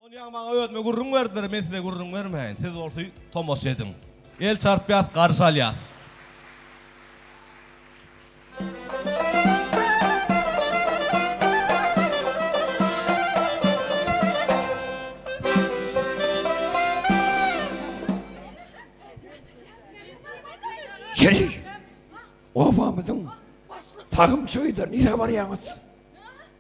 Ony ýaňy maňa özüme gürrüň berdiler, men size gürrüň bermäýin, siz bolsa tomaşa ediň. El çarpýas, garşy alýas. Geliň. Obamyzyň tagym çöýder, nirä barýaňyz?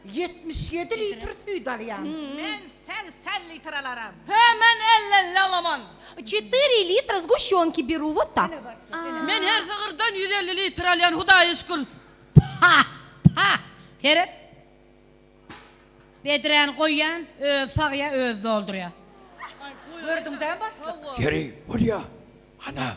Ýetmiş ýedi litr süýt alýan. Men segsen litr alaram. Hä, men ellelli alaman. Çetyri litr zguşýonki beru wot tak. Men her sygyrdan ýüz elli litr alýan, Hudaýa şükür. Pah, pah, seret. Bedräni goýýan, özi sagýar, özi doldurýar. Gördüň dä, başlyk? Ýeri, bolýa. Ana,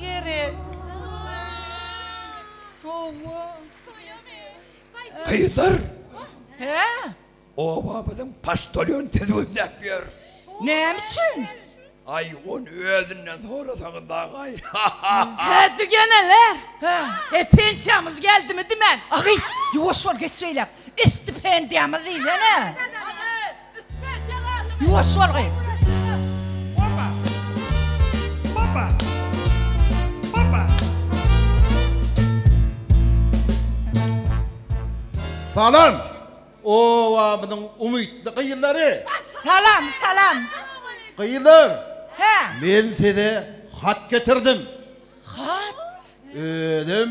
gerek. Howwa. Gyzlar. Hä? Obamyzyň paştolýony sizi gözläp ýör. Näme üçin? Aý, ony özünden sorasaňyz dagaý. Hä, dügeneler. Hä. He, pensiýamyz geldimi dimen? Agy, ýuwaş bol, geç beýläk. Istipendýamyz diýsene. Ýuwaş bol gyz. Salam obamyzyň umytly gyzlary. Salam salam. Gyzlar. Hä. Men size hat getirdim. Hat. Özüm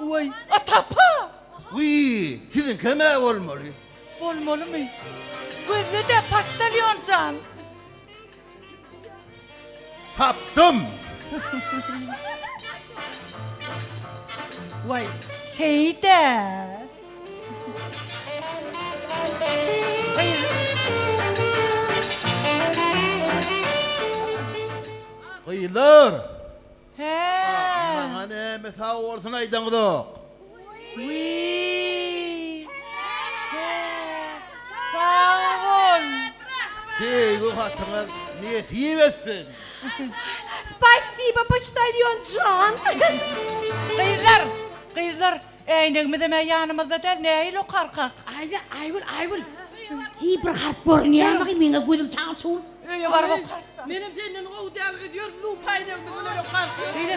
Weý, Atapa! Wiý, siziňkem-ä bolmaly. Bolmalymy? Gözle-de, paçtalýon jan! Tapdym! Weý, şeýde! Gyzlar, Hää. Maňa näme sag bolsun aýdaňyzok. Wiý. Hää. Sag bol. Söýgi hatyňyz nesip etsin. Spasiba poçtalýon jan. Gyzlar! Gyzlar! Äýnegimizem ä ýanymyzda däl, nähili okarkak? Aýda, Aýgül, Aýgül! Hiý, bir harp görünýärmi, meň-ä gözüm çal-çuwul. Öýe baryp okarsyň. Menem senden gowy däl öýdýär lupaý däl biz öýe okarsyň. Beýle.